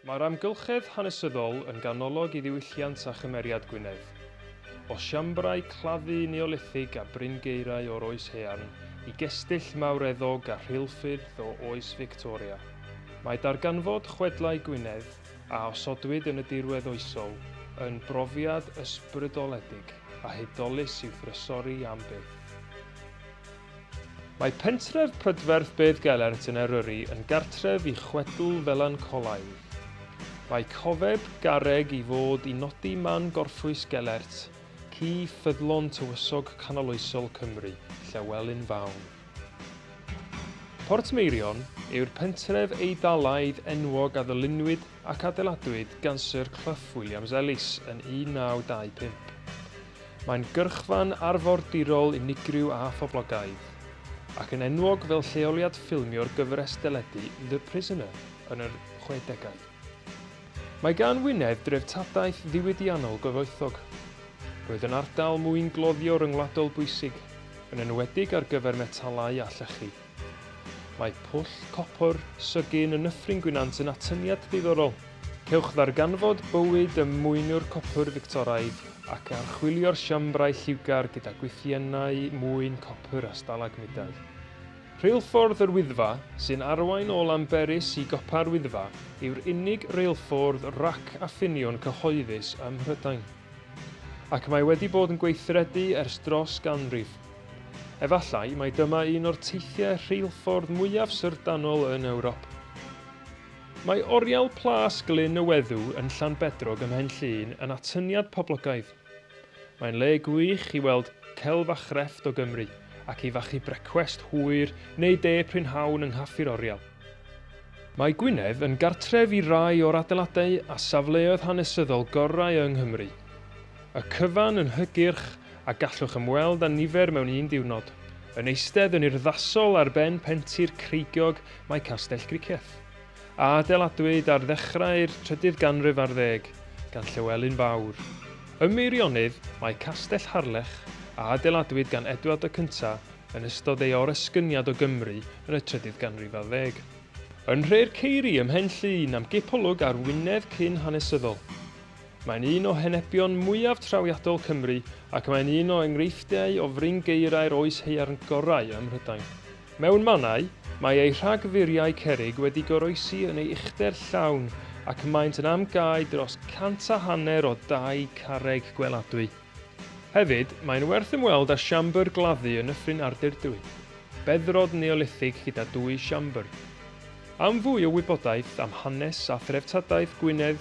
Mae'r amgylchedd hanesyddol yn ganolog i ddiwylliant a chymeriad Gwynedd. O siambrau claddu Neolithig a bryn gaerau o'r Oes Haearn i gestyll mawreddog a rheilffyrdd o Oes Fictoria, mae darganfod chwedlau Gwynedd, a osodwyd yn y dirwedd oesol, yn brofiad ysbrydoledig a hudolus i'w thrysori am byth. Mae pentref prydferth Beddgelert yn Eryri yn gartref i chwedl felancolaidd. Mae cofeb garreg i fod i nodi man gorffwys Gelert, ci ffyddlon tywysog canoloesol Cymru, Llewelyn Fawn. Portmeirion yw'r pentref Eidalaidd enwog a ddylunwyd ac adeiladwyd gan Syr Clough Williams-Ellis yn 1925. Mae'n gyrchfan arfordirol unigryw a phoblogaidd, ac yn enwog fel lleoliad ffilmio'r gyfres deledu The Prisoner yn yr 60au. Mae gan Wynedd dreftadaeth ddiwydiannol gyfoethog. Roedd yn ardal mwyngloddio ryngwladol bwysig, yn enwedig ar gyfer metalau a llechi. Mae pwll copr Sugin yn Nyffryn Gwynant yn atyniad diddorol. Cewch ddarganfod bywyd y mwynwr copr Fictoraidd ac archwilio'r siambrau lliwgar gyda gwythiennau mwyn copr a stalagmidau. Rheilffordd yr Wyddfa, sy'n arwain o Lanberis i Gopa'r Wyddfa, yw'r unig reilffordd rac a ffiniwn cyhoeddus ym Mhrydain. Ac mae wedi bod yn gweithredu ers dros ganrif. Efallai mai dyma un o'r teithiau rheilffordd mwyaf syrddanol yn Ewrop. Mae oriel Plas Glyn y Weddw yn Llanbedrog ym Mhen Llŷn yn atyniad poblogaidd. Mae'n le gwych i weld celf a chrefft o Gymru ac i fachu brecwest hwyr neu de prynhawn yng Nghaffi'r Oriel. Mae Gwynedd yn gartref i rai o'r adeiladau a safleoedd hanesyddol gorau yng Nghymru. Y cyfan yn hygyrch a gallwch ymweld â nifer mewn un diwrnod. Yn eistedd yn urddasol ar ben pentir creigiog mae Castell Gricieth, a adeiladwyd ar ddechrau'r trydydd ganrif ar ddeg gan Llywelyn Fawr. Ym Meirionnydd mae Castell Harlech, a adeiladwyd gan Edward y Cyntaf yn ystod ei oresgyniad o Gymru yn y trydydd ganrif ar ddeg. Yn Nhre'r Ceiri ym Mhen Llŷn am gipolwg ar Wynedd cyn-hanesyddol. Mae'n un o henebion mwyaf trawiadol Cymru ac mae'n un o enghreifftiau o frin geirai'r oes haearn gorau ym Mhrydain. Mewn mannau, mae ei rhagfuriau cerrig wedi goroesi yn ei uchder llawn ac maent yn am gau dros cant a hanner o dai carreg gweladwy. Hefyd, mae'n werth ymweld â siambr gladdu yn Nyffryn Ardurdwy, beddrod Neolithig gyda dwy siambr. Am fwy o wybodaeth am hanes a threftadaeth Gwynedd,